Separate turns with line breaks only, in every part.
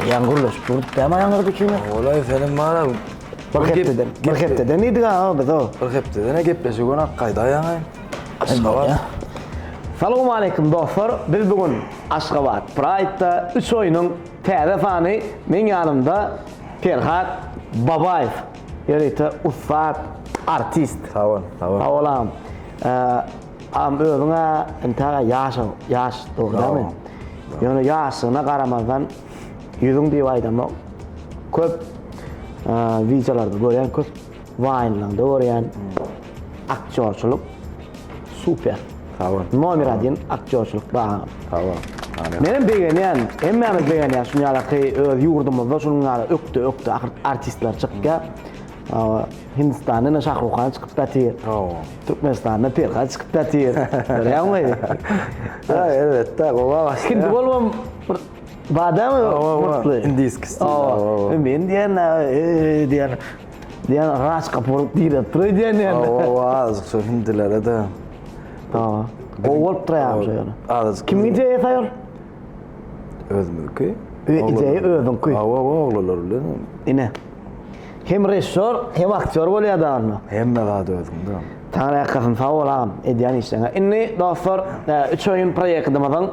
Ýaňy gurluş, bu däme ýaňy gurdy kimi? Olaý senin mara.
Bir hepdeden,
bir hepdeden idi ga o biz o. Bir hepdeden gepleşi
gün ak gaýda ýaňy. Aşgabat.
Salam aleyküm dostlar. Biz bu gün Aşgabat Pride-da 3 oýnuň täze sany men ýanymda Perhat Babaýew. Ýörite ussat artist. Sag bol, sag bol.
Sag bol agam.
Agam özüňe entäge ýaş, ýaş dogrudanmy? Ýöne ýaşlygyna garamazdan ýüzüň diýip aýdamok. Köp wideolarda görýän, köp waýnlaňda görýän. Aktýorçylyk super. Sag
bol. Nomer adin aktýorçylyk
baam. Sag bol. Amin.
Menem
begenýän, hemmämiz begenýär şuny ýalaky öz ýurdumyzda şunuň ýaly ökde ökde ahyr artistler çykýar. Awa, Hindistanda ine Şahruhan çykyp datyr. Awa. Türkmenistanda Perhat çykyp datyr. Görýäňmi? Ýa
elbetde gowa başlaýar. Hindi bolubam bir
badamy murtly. Indiski stil. Awa.
Men
diýen diýen Diýen agaç gapuryp diýle turay diýen ýerde. Owa azjyk şu
hindilere de. Tamam.
Gowy bolup turaýam şu ýöne. Azjyk. Kim ideýa
taýar?
Özümki.
Ideýa özüňki.
Owa owa oglanlar bilen.
Ine.
Hem režissýor, hem aktýor bolýar dagyna. Hemme zat özüňde.
Taňry ýalkasyn sag bol
agam edýän işleňe. Indi dostlar, üç oýun proýektimiziň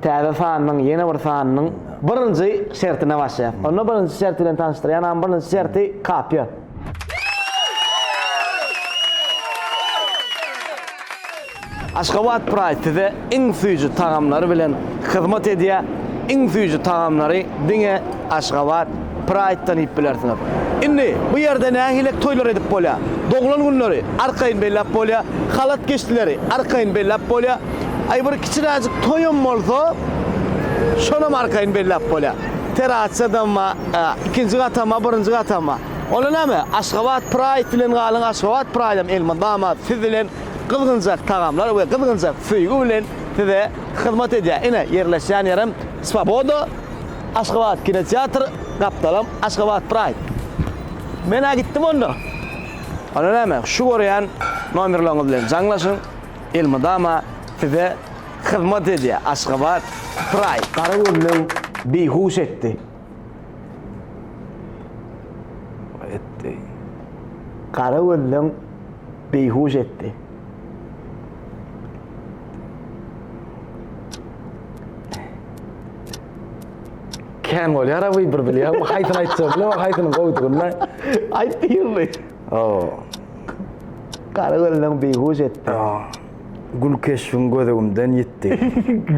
täze sanynyň ýene bir sanynyň birinji şertine başlaýar. Onda birinji şert bilen tanyşdyrýan birinji şerti kapýa. Aşgabat Pride size iň süýji tagamlary bilen hyzmat edýär. Iň süýji tagamlary diňe Aşgabat Praýddan iýip bilersiňiz. Indi, bu ýerde nähilek toýlar edip bolýar. Doglan günleri arkaýyn belläp bolýar, halat geçdileri arkaýyn belläp bolýar. Aý, bir kiçiräjik toýam bolsa, şonam arkaýyn belläp bolýar. Terassadam bar, ikinji gatam bar, birinji gatam bar. Onda näme, Aşgabat Praýd bilen galyň, Aşgabat Praýdam elmydama siz bilen gyzgynjak tagamlar we gyzgynjak söýgi bilen size hyzmat edýär. Ine, ýerleşýän ýerem Swoboda. Aşgabat kinoteatr gapdalam Aşgabat Pride. Men-ä gitdim onda. Onda näme, şu görýän nomerleriňiz bilen jaňlaşyň, elmydama size hyzmat edýär Aşgabat Pride. Gara göwnem beýhuş etdi.
Gara
göwnem beýhuş etdi.
Kän bolýar ha bir bilýär. Bu haýsyny aýtsa bilen, haýsyny goýdugynda. Aýt diýildi.
Oo. Gara gözleň beýhuş etdi. Gül
keşbiň gözügimden ýitdi.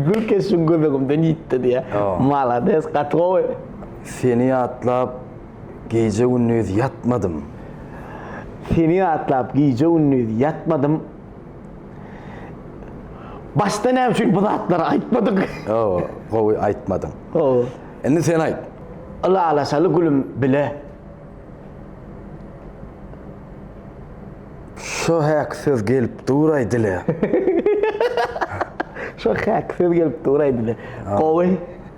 Gül keşbiň
gözügimden ýitdi diýýär. Malades, gaty gowy. Seni
ýatlap gije-gündiz ýatmadym.
Seni ýatlap gije-gündiz ýatmadym. Başda näme üçin bu zatlary aýtmadyk? Hawa, gowy
aýtmadyň. Hawa. Indi sen aýt. Ylalaşaly
gülüm bile.
Şo häk söz gelip duraý dile.
Şo häk söz gelip duraý dile. Gowy.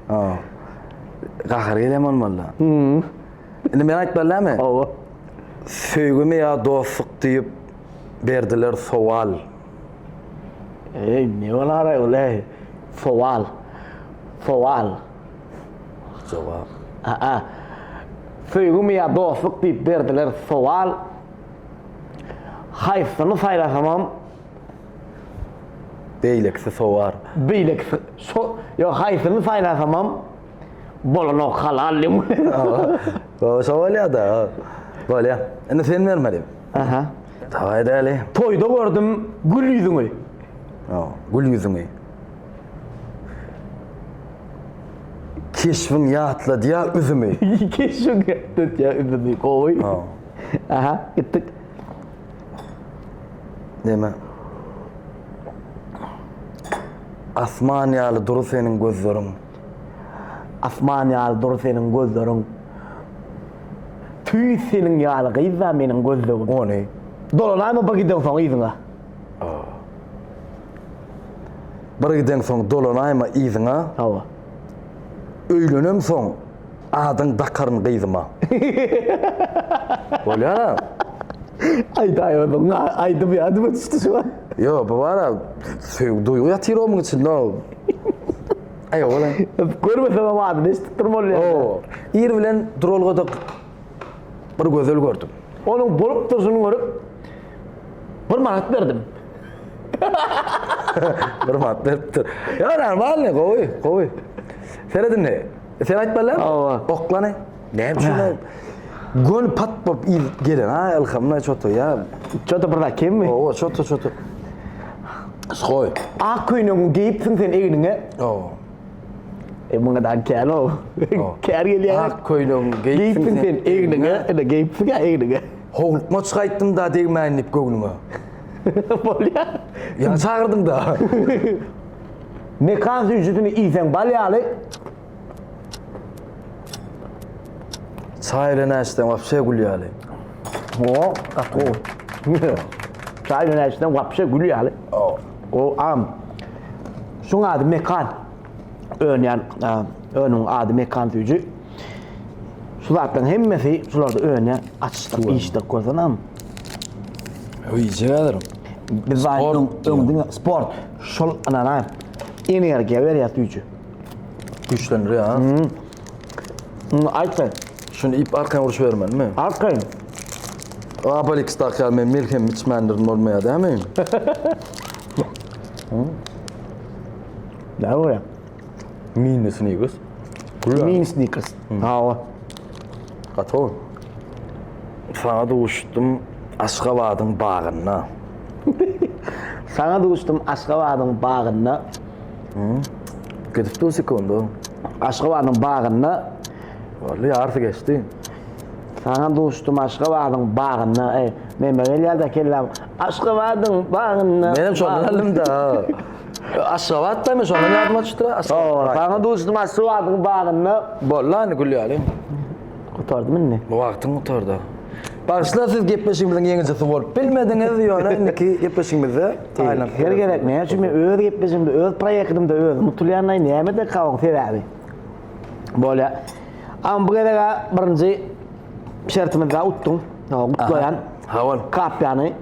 Hawa.
Gahar gelen bolmaly. Hmm. Indi men aýtmaly näme? Hawa. Söýgimi ýa dostluk diýip berdiler sowal. Eý,
ne bolar aý ol eý? Sowal. Sowal.
Jogap. Aa.
Söýgimi ýa dostluk diýip berdiler sowal. Haýsyny saýlasamam
Beýlekisi sowar. Beýlekisi
so ýok haýsyny saýlasamam bolanok halal diýip. Baba
şo bolýada. Bolýa. Indi sen bermeli. Aha. Dawaý däli. Toýda gördüm
gül ýüzüňi. Ýa
gül ýüzüňi. Keşbiň ýatladýa üzümi. Keşbiň
ýatladýa üzümi gowy. Aha gitdik.
Neme? Asman ýaly dury seniň gözleriň. Asman ýaly
dury seniň gözleriň. Tüýs seniň ýaly gyzda meniň gözlegim. Ony.
Dolanaýma bir giden
soň yzyňa.
Bir giden soň dolanaýma yzyňa. Hawa. Öýlenem soň. Adyň dakaryn gyzyma. Bolýara.
Aýdaý onuň aýdymy ýadyma düşdi şu an. Ýo
bu bara söýgi duýgy ýatyr
omyň
içinde o. Aý oglan. Görmesem hem
adyny eşidip durym ol ýerde. O ir bilen
duralgada bir gözel gördüm. Onuň bolup
durşuny görüp bir manat berdim.
Bir manat beripdir. Ýo normalny gowy gowy. Seredindi. E, sen aýtmaly. Hawa. Oklany.
Näme
üçin? Gön pat bolup il gelen. Ha, ilhamna çoto ya. Çoto bir zat kemmi?
Hawa, çoto çoto.
Skoy. Ak köýnegi geýipsiň
sen egniňe. Hawa. E muňa da kär o. Kär gelýär. Ak köýnegi geýipsiň
sen
egniňe. Ene geýipsiň ya egniňe. Howlukma çykaýtdym
da degmäýin diýip göwnüňe.
Bolýar. Ýa
çagyrdyň da. Mekan
süýjüsini iýseň bal ýaly.
Çaý bilen äçseň wapşe gül ýaly. O,
gaty gowy. Çaý bilen äçseň wapşe gül ýaly. O, o am. Şuň ady mekan. Önýän önüň ady mekan süýji. Şu zatlaryň hemmesi şularda önýär. Açyşdyr, iýişdir görseňem.
Öýjä galaryn. Biz aýdyň,
öňdüň sport. Şol ynanaýyň. Energiýa berýär süýji.
Güýçlendirýär ha. Hmm. Hmm, aýtsaý.
Şuny iýip arkaýyn
uruşybermeli-mi? Arkaýyn. Abalix dakýar men melhem içmändirin bolmaýar dämi? Näme
bolýar? Mini
snickers. Gülüň. Mini
snickers. Hawa.
Gatow. Saňa duşdum Aşgabadyň bagynda.
Saňa duşdum Aşgabadyň bagynda.
Gidip dur sekundu. Aşgabadyň
bagynda. Wally
ýarsy geçdi. Saňa
duşdum Aşgabadyň bagynda. Ey, meme gelýär-de kelläm. Aşgabadyň bagynda. Menem şondan alymda.
Aşgabat dämi şondan ýadyma düşdi. Aşgabat. Saňa duşdum
Aşgabadyň bagynda. Boldy indi
gülýäliň. Gutardy
indi. Bu wagtyň gutardy.
Bagyşla siz gepleşigimiziň ýeňijisi bolup bilmediňiz, ýöne indiki gepleşigimizde taýynlandyk. Her gezek näme üçin men
öz gepleşigimde, öz proýektimde özüm utulýanlaý, nämede kawyň sebäbi? Bolýa. Amma bu gezek birinji şertimizde utduň. Gutlaýan. Sag bol.
Kapýany.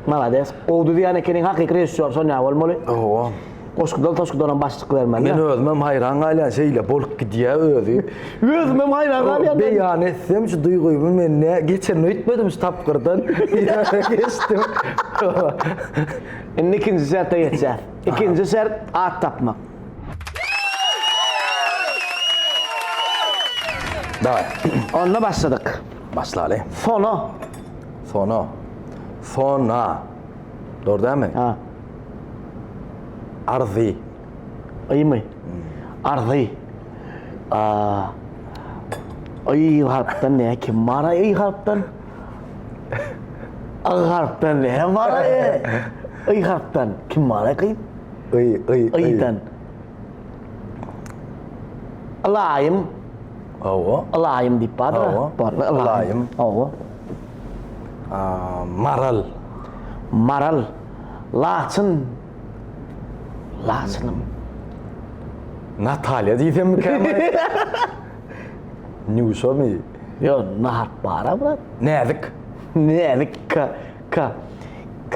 Malades. Gowy düzýän ekeniň hakyky režissýor şonýa bolmaly. Owa.
Goşgudan toşgudanam
başlyk bermeli. Men özümem haýran
galýan şeýle bolup gidýä özi. Özümem haýran
galýan. Beýan etsem şu
duýgymy men nä geçen öýtmedim şu tapgyrdan. Geçdim.
Indi ikinji şerte geçýäs. Ikinji şert at tapmak.
Dawaý. Onda
başladyk. Başlaly.
Sona. Sona. Sona. Dor dämi? Ha. Arzy. Ýymy.
Hmm. Arzy. Aa. Ýy harpdan ne kim bar ýy harpdan? Ýy harpdan ne bar ýy? harpdan kim bar ýy? Ýy ýy ýydan. Alaýym. Hawa.
Ylaýym diýip bardyr.
Hawa. Barmy ylaýym? Ylaýym.
Hawa.
Maral.
Maral.
Laçyn. Laçynym. Natalýa
diýsemmikäm? Nýuşamy? Ýo, Naharp
bar-a brat. Näzik.
Näzik.
K. K. K.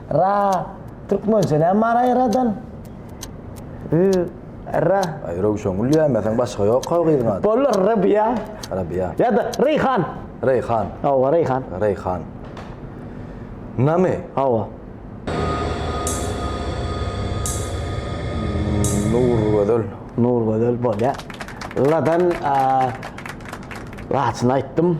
Ra, türkmençe näme bar aýradan? Ü, Ra. Aý, Röwşengül
diýäýmeseň, başga ýok-a gyzyň ady. Bolar, Rabiýa.
Rabiýa. Ýa-da
Reýhan.
Reýhan.
Hawa, Reýhan.
Reýhan.
Name? Hawa.
Nurgözel. Nurgözel bolýar. Ladan, a, laçyny aýtdym.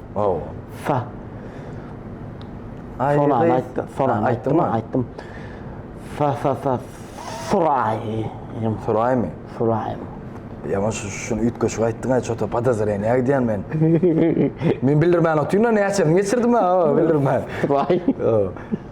Hawa.
Sa. Aý, Sona aýtdym. Sona aýtdym. Aýtdym. Sa sa sa. Suraý.
Suraýmy? Suraýmy?
Ýaman
şu şuny üýtgeşik aýtdyň aý çota podozreniýa nägidýän men. Men bildirmän otyryn näçe geçirdim ha bildirmän. Suraý.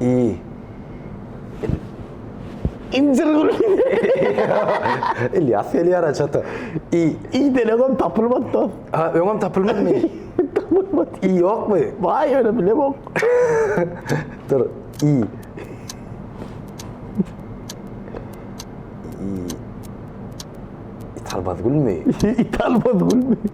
Iý. Injir gülüň.
Ilýas gelýär-ä çata. Iý. Iý delegem
tapylmady dos. Ha, öňem tapylmadymy?
Tapylmady.
Iý ýokmy?
Baý ýöne bilemok. Dur, iý. Iý. Italmaz gülmi? Italmaz
gülmi?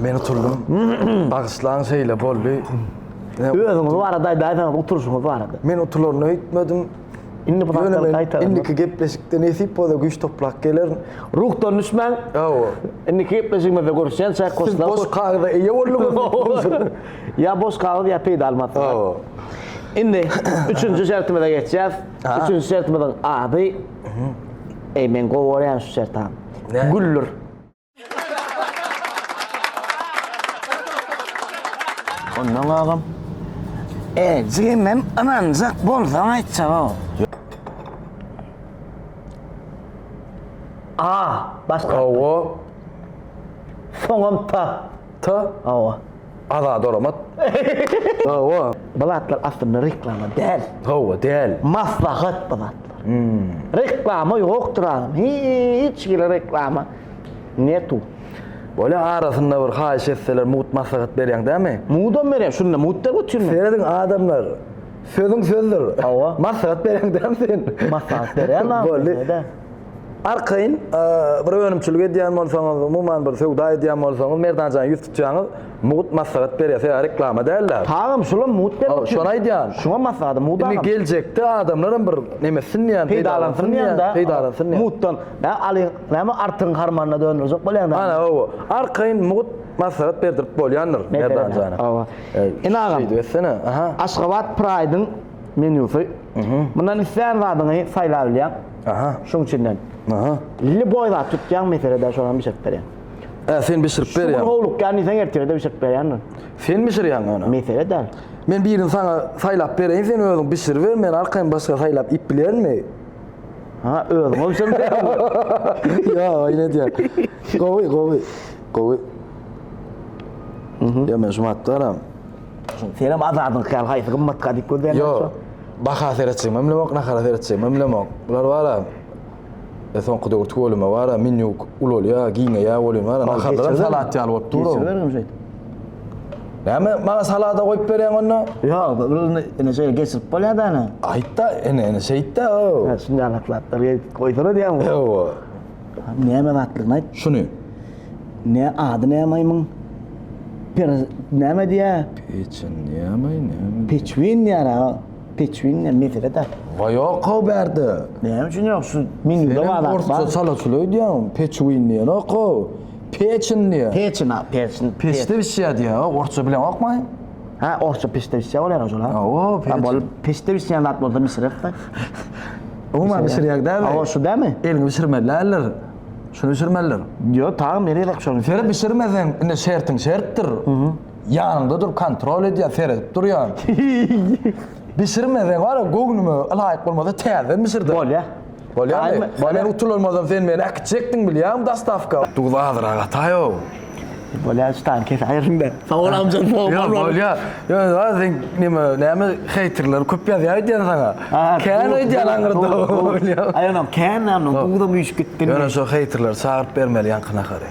Men oturdum. Bagyşlaň şeýle boldy.
Özüňiz barada aýdaýsaňyz oturşyňyz barada. Men oturlaryna öýtmedim.
Indi bu
zatlar gaýtadan. Indiki gepleşikde
nesip bolsa güýç toplap gelerin. Ruhdan düşmäň.
Hawa. Indiki
gepleşigimizde
görüşýän çaý goşlar. Boş kagyza eýe
bolduňyz. Ýa boş
kagyz ýa peýdaly maslahat. Hawa.
Indi
üçünji şertimize geçýäs. Üçünji şertimiziň ady. Eý men gowy görýän şu şertany. Güller. Ondan agam. E, jigim hem ynanjak bolsaň aýtjaga. A, başga. Owo. Soňam ta. Ta. Owo. Azat Oramat.
Hawa. Bu zatlar
aslynda reklama däl. Hawa, däl.
Maslahat bu
zatlar. Hum. Reklama ýokdur agam. Hiç hili reklama netu. Bolýa
arasynda bir haýyş etseler mugt maslahat berýäň dämi? Mugdam berýän şunda
mugt der götürmän. Serediň adamlar
sözüň sözdür. Hawa. Maslahat
berýäň dämi
sen? Maslahat berýän agam.
Boldy.
Arkaýyn bir önümçilik edýän bolsaňyz, umuman bir söwda edýän bolsaňyz, Merdan jana ýüz tutýaňyz, mugt maslahat berýär. Sebäbi reklama däl-de. Tagam, şulam mugt
bermek üçin. Şony aýdýan.
Şuňam maslahat, mugt agam.
Indi geljekde
adamlar hem bir neme etsin diýýän, peýdalansyn diýýän-de.
Peýdalansyn diýýän. Mugtdan.
Näme alyň,
näme artygyň harmanyna döndürjek bolýaň näme? Ana, hawa. Arkaýyn
mugt maslahat berdirip bolýandyr Merdan jana. Hawa.
Ine agam. Şeýdip etsene. Aha.
Aşgabat Pride-iň
menýusy. Mundan islän zadyňy saýlap bilýäň. Aha. Şuň üçinden. Aha. Lili
boý zat
tutýan meselede şonam bişirip berýän. Ä, sen bişirip
berýän. Şu gün howlukýan diýseň ertirede
bişirip berýändir. Sen bişirýän
ony. Mesele däl. Men
birini saňa
saýlap bereýin, sen özüň bişiriber, men arkaýyn başga saýlap iýip bilerimmi? Ha,
özüňe bişirip berýän.
Ýa, oýun edýän. Gowy, gowy. Gowy. Ýa, men şu matdaram. Senem
azadyň kal haýsy gymmat ka diýip gözleýän. Ýok. Baha
seretjek memlemok, nahara seretjek memlemok. Bular wara. E soňky döwür tüweleme wara, menýu ulalýa, giňeýä welin wara, naharlar salat ýaly bolup dur.
Geçirmedim
şeýt. Näme maňa salada goýup berýäň onda? Ýok, bu indi
indi şeýle geçirip bolýar da ene. Aýtda, ene, ene
şeýtde. Şunday alatlaplar,
goýsana diýýän. Ýok.
Näme
zatdygyny aýt. Şuny.
Nä
ady nä maýmyn? Per näme diýä? Peçin diýämi,
näme? Peçwin diýär
aga. Peçwin diýär, mesele da. Wa ýok o
bärde. Näme üçin ýok
şu menýuda bar zat. Orta sala şuly öýdýän,
peçwin diýen ýok o. Peçin diýär. Peçin a, peçin.
Peçde bişýär
diýär, orça bileňokmy? Ha, orsça
piştewsçe bolýar ojalar. Awa, pereç. Bol
piştewsçe
ýaly zat bolsa bişirerdi.
Umuman bişirýär dämi? Awa, şu dämi? Elini
bişirmeliler.
Şunu bişirmeliler. Ýo, taýyn berýärler
şony. Seri bişirmeseň,
indi şertiň şertdir. Ýanyňda durup kontrol edýär, seredip durýar. Bişirmeseň, wara, göwnüme ylaýyk bolmasa, täzeden bişirdi. Bolýar.
Bolýamy?
Bar men utulanmazam sen meni äkitjekdiň bilýäňmi dastawka. Duz azyrak ataýow.
Bolýar şu tany kesip aýryňda. Sag bol amjam sag bol. Ýok bolýar.
Ýöne bar sen nime näme heýterler köp ýazýar öýdýän saňa. Kän öýdýän aňyrda bolýar. Aýanam kän
näme duzam üýşüp gitdi. Ýöne şo heýterleri
çagyryp bermeli ýaňky nahary.